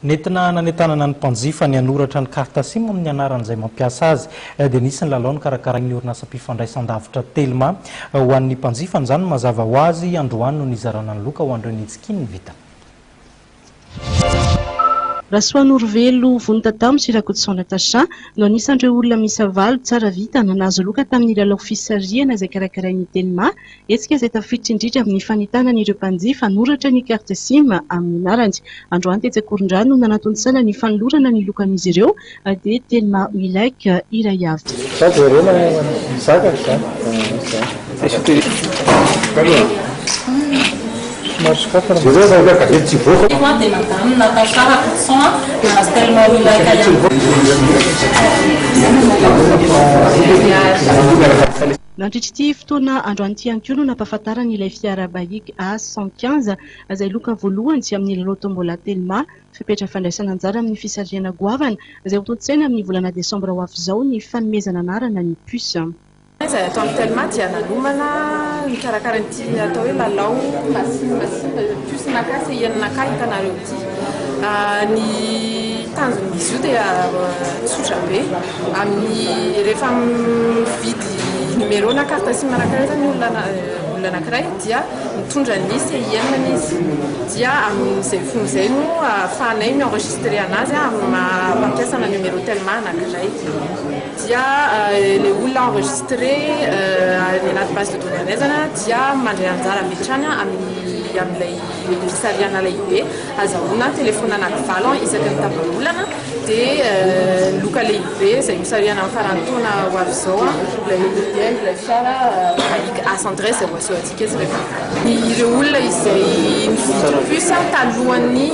Nentina nanentanana ny mpanjifa ny hanoratra ny carte sim amin'ny anaran'izay mampiasa azy, dia nisy ny lalao nokarakarain'ny orinasam-pifandraisandavitra Telma ho an'ny mpanjifa an'izany. Mazava ho azy, androany no nizarana ny loka ho an'ireo nitsiky ny vitany. Rasoanorovello Vonitataho sy Rakotoson Natacha no anisan'ireo olona miisa valo tsara vitana nahazo loka tamin'ny lalao fisarihana izay karakarain'ny Telma Hetsika izay tafiditra indrindra amin'ny fanentanana ireo mpanjifa hanoratra ny carte sim amin'ny anarany. Androany tetsy Ankorondrano no nanatontosana ny fanolorana ny lokan'izy ireo dia Telma Wilek iray avy. Nandritra ity fotoana androany ity ihany koa no nampahafantarany ilay fiara Baik A cent quinze izay loka voalohany amin'ny lalao Tombola Telma. Fepetra fandraisana anjara amin'ny fisarihana goavana izay hotontosaina amin'ny volana desambra ho avy izao ny fanomezana anarana ny puce. Izay atao amin'ny Telma dia nanomana nikarakara ity atao hoe lalao Masin masin puce naka sy yen naka hitanareo ity. Ny tanjon'izy io dia tsotra be. Amin'ny rehefa mividy numéro na carte sim anankiray zany olona olona anankiray dia mitondra ny CIN-ny izy dia amin'izay fony izay no ahafahanay mi enregistrer anazy amin'ny maha mpampiasa ana numéro telma anankiray dia ilay olona enregistré any anaty base de données anay zany a dia mandray anjara avy hatrany amin'ny amin'ilay fisarihana lehibe azahoana telefaonina anakivalo isaky ny tapa-bolana dia loka lehibe izay nosarihana amin'ny faran'ny taona ho avy izao ilay modèle ilay fiara Buick A 113 izay ho asehontsika eto rehefa avy eo. Ireo olona izay nividy puce talohan'ny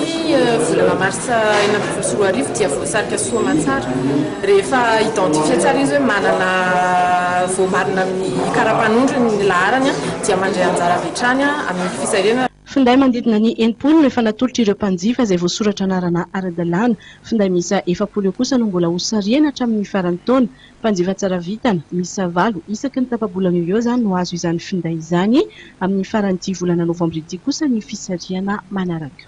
volana marsa enina ambin'ny folo sy roa arivo dia voasarika soa aman-tsara rehefa identifier tsara izy hoe manana voamarina amin'ny kara-panondrony ny laharany dia mandray anjara avy hatrany amin'ny fisarihana Finday manodidina ny enimpolo no efa natolotra ireo mpanjifa izay voasoratra anarana ara-dalàna. Finday miisa efapolo eo kosa no mbola ho sarihana hatramin'ny faran'ny taona. Mpanjifa tsara vintana miisa valo isaky ny tapa-bolana eo eo izany no hahazo izany finday izany. Amin'ny faran'ity volana novambra ity kosa ny fisarihana manaraka.